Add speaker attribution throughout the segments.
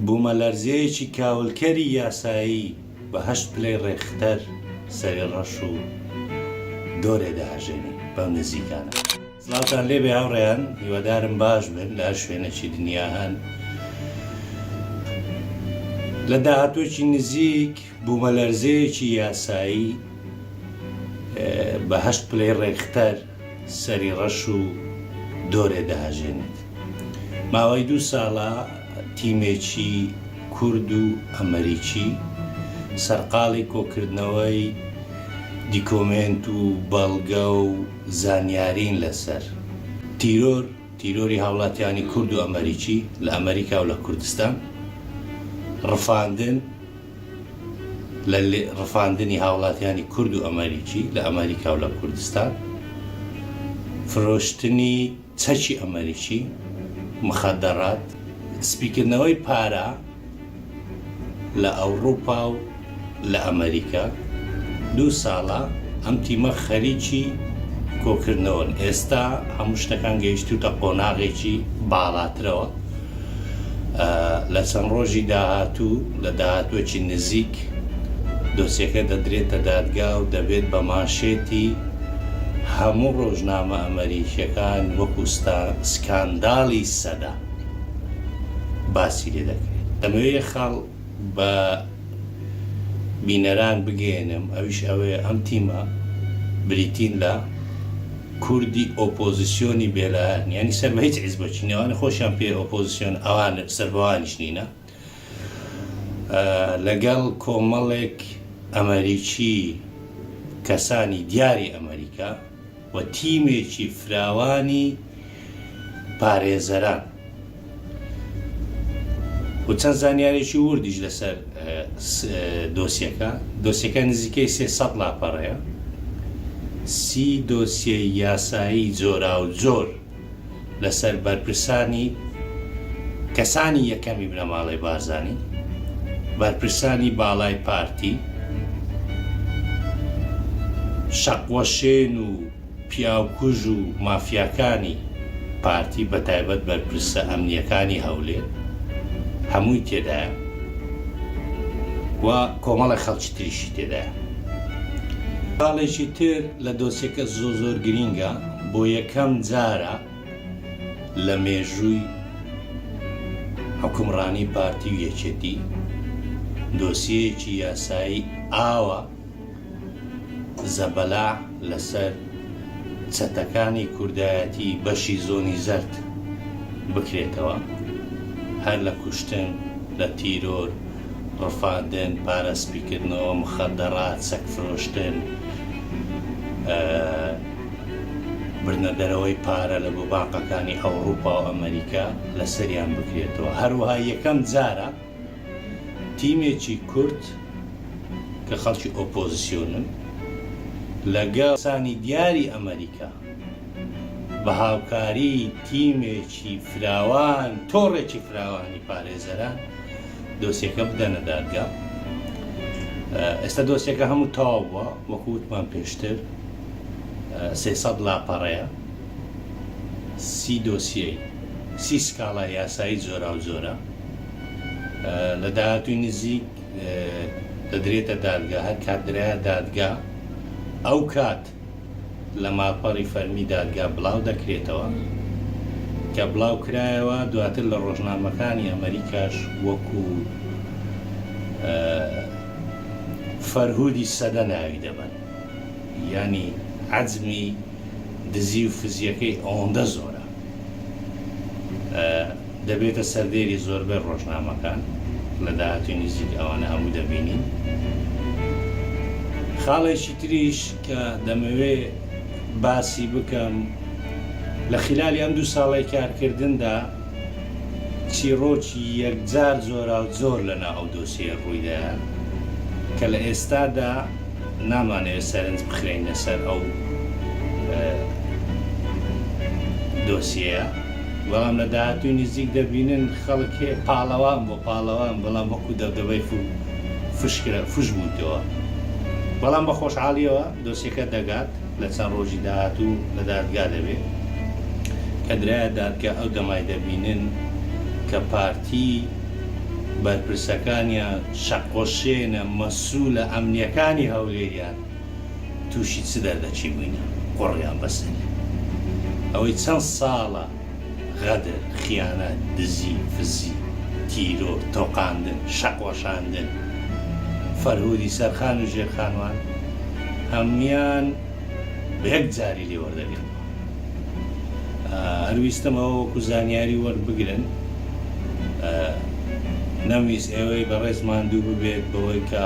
Speaker 1: بوومەلەرزەیەکی کاولکەری یاسایی بە هەشت پلەی ڕێکختەر سەری ڕەش و دۆرێ دەهەژێنێ بەم نزیکانە. سڵاوتان لێبێ هاوڕێیان هیوادارم باش بن لە هەر شوێنێکی دنیا هەن لە داهاتوێکی نزیک بوومەلەرزەیەکی یاسایی بە هەشت پلەی ڕێکختەر سەری ڕەش و دۆرێ دەهەژێنێت. ماوەی دوو ساڵە تیمێکی کورد و ئەمەریکی سەرقاڵی کۆکردنەوەی دیکۆمێنت و بەڵگە و زانیارین لەسەر تیرۆر، تیرۆری هاوڵاتیانی کورد و ئەمەریکی لە ئەمەریکا و لە کوردستان، ڕفاندن، لە ڕفاندنی هاوڵاتیانی کورد و ئەمەریکی لە ئەمەریکا و لە کوردستان، فرۆشتنی چەکی ئەمەریکی، مخدرات، سپیکردنەوەی پارە لە ئەوڕوپا و لە ئەمەریکا، دوو ساڵە ئەم تیمە خەریکی کۆکردنەوەن، ئێستا هەموو شتەکان گەیشتووتە قۆناغێکی باڵاترەوە. لە چەند ڕۆژی داهاتوو لە داهاتوەکی نزیک دۆسیەکە دەدرێتە دادگا و دەبێت بە مانشێتی هەموو ڕۆژنامە ئەمەریکیەکان وەکو سکانداڵی سەدە باسی لێ دەکرێت لەمەوێ خاڵ بە بینەران بگەیەنم ئەویش ئەوەیە ئەم تیمە بریتین لە کوردی ئۆپۆزسیۆنی بێلایەن یانی سەر بە هیچ حیزبەکی نین ئەوانە خۆشیان پێ ئۆپۆزسیۆن ئەوان سەربەوانیش نینە لەگەڵ کۆمەڵێک ئەمەریکی کەسانی دیاری ئەمەریکا و تیمێکی فراوانی پارێزەران و چەند زانیاریی وردیش لەسەر دۆسیەکە، دۆسیەکە نزیکەی سێ سەد لاپەڕەیە، سی دۆسیەی یاسایی جۆراوجۆر، لەسەر بەرپرسانی کەسانی یەکەمی بنەماڵەی بارزانی بەرپرسانی باڵای پارتی شەقوەشێن و پیاوکوژ و مافیاکانی پارتی بەتایبەت بەرپرسە ئەمنیەکانی هەولێر هەمووی تێدایە و کۆمەڵێک خەڵکی تریشی تێدایە. خاڵێکی تر لە دۆسێکە زۆ زۆر گرینگە. بۆ یەکەم جارە لە مێژووی حوکمڕانی پارتی و یەکێتی دۆسیەیەکی یاسایی ئاوا زەبەلاح لەسەر چەتەکانی کوردایەتی بەشی زۆنی زەرد بکرێتەوە هەر لە کوشتن لە تیرۆر ڕفاندن پارە سپیکردنەوە مخەدەڕات سەگ فرۆشتن بردنە دەرەوەی پارە لە گوباقەکانی ئەوڕوپا و ئەمەریکا لەسەریان بکرێتەوە، هەروەها یەکەم جارە تیمێکی کورد کە خەڵکی ئۆپۆزسیۆنن لەگەڵ کەسانی دیاری ئەمەریکا بە هاوکاری تیمێکی فراوان تۆڕێکی فراوانی پارێزەران، دۆسیەکە بدەنە دادگا ئێستا دۆسیەکە هەموو تەواو بووە وەکو وتمان پێشتر سێ سەد لاپەڕەیە سی دۆسیەی سی سکاڵا یاسایی جۆرا و جۆرە لە داهاتووی نزیک دەدرێتە دادگا هەر کات درایە دادگا ئەو کات لە ماڵپەڕی فەرمی دادگا بڵاو دەکرێتەوە، کە بڵاو کرایەوە دواتر لە ڕۆژنامەکانی ئەمەریکاش وەکو فەرهودی سەدە ناوی دەبەن، یانی عەزمی دزی و فزیەکەی ئەوەندە زۆرە. دەبێتە سەردێری زۆربەی ڕۆژنامەکان لە داهاتووی نزیک ئەوانە هەموو دەبینین خاڵێکی تریش کە دەمەوێ باسی بکەم لە خلالی ئەم دوو ساڵی کارکردندا چیڕۆکی یەکجار زۆرا و زۆر لەنا ئەو دۆسیە ڕوویدا کە لە ئێستادا نامانەوێت سەرنج بخەینە سەر ئەو دۆسیەیە، بەڵام لە داهاتووی نزیک دەبینن خەڵک هێ پاڵەوان بۆ پاڵەوان بەڵام وەکو دەبدەبەی فو فشکرا فش بوویتەوە. بەڵام بە خۆشحاڵییەوە دۆسیەکە دەگات لە چەند ڕۆژی داهاتوو لە دادگا دەبێت. کە درایە دادگا ئەو دەمای دەبینن کە پارتی بەرپرسەکانیان، شەقۆشێنە مەسولە ئەمنیەکانی هەولێریان توشی چ دەردەکی بوینە قوڕیان بەسەری ئەوەی چەند ساڵە غەدر خیانەت دزی فزی تیرۆر تۆقاندن شەقوەشاندن فەرهودی سەرخان و ژێرخانوان هەمویان بەیەک جاری لێوەردەگرن. هەر ویستم ئەوە وەکو زانیاری وەربگرن نەمویست ئێوەی بەڕێز ماندوو ببێت بەوەی کە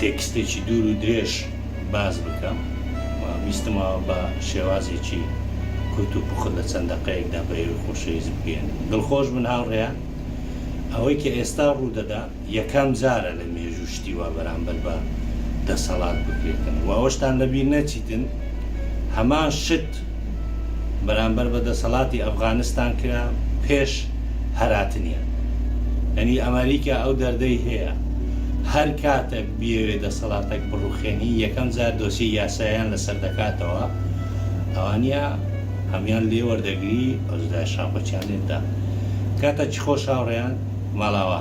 Speaker 1: تێکستێکی دوور و درێژ باز بکەم ویستمەوە بە شێوازێکی کورت و پوخت لە چەند دەقەیەکدا بە ئێوەی خۆشەویست بگەێنم دڵخۆش بن هاوڕێیان ئەوەی کە ئێستا ڕوودەدا یەکەم جارە لە مێژوو شتی وا بەرامبەر بە دەسەڵات بکرێتن و ئەوەشتان لەبیر نەچیتن هەمان شت بەرامبەر بە دەسەڵاتی ئەفغانستان کرا پێش هەراتنیان یانی ئەمەریکا ئەو دەردەی هەیە هەر کاتەک بیەوێ دەسەڵاتەک بڕوخێنی یەکەم جار دۆسیەی یاسایان لەسەر دەکاتەوە ئەوانیا هەموان لێ وەردەگری ئەوجلایە شاپەچیان لێ بدا کاتە چی خۆش هاوڕێیان ماڵاوا.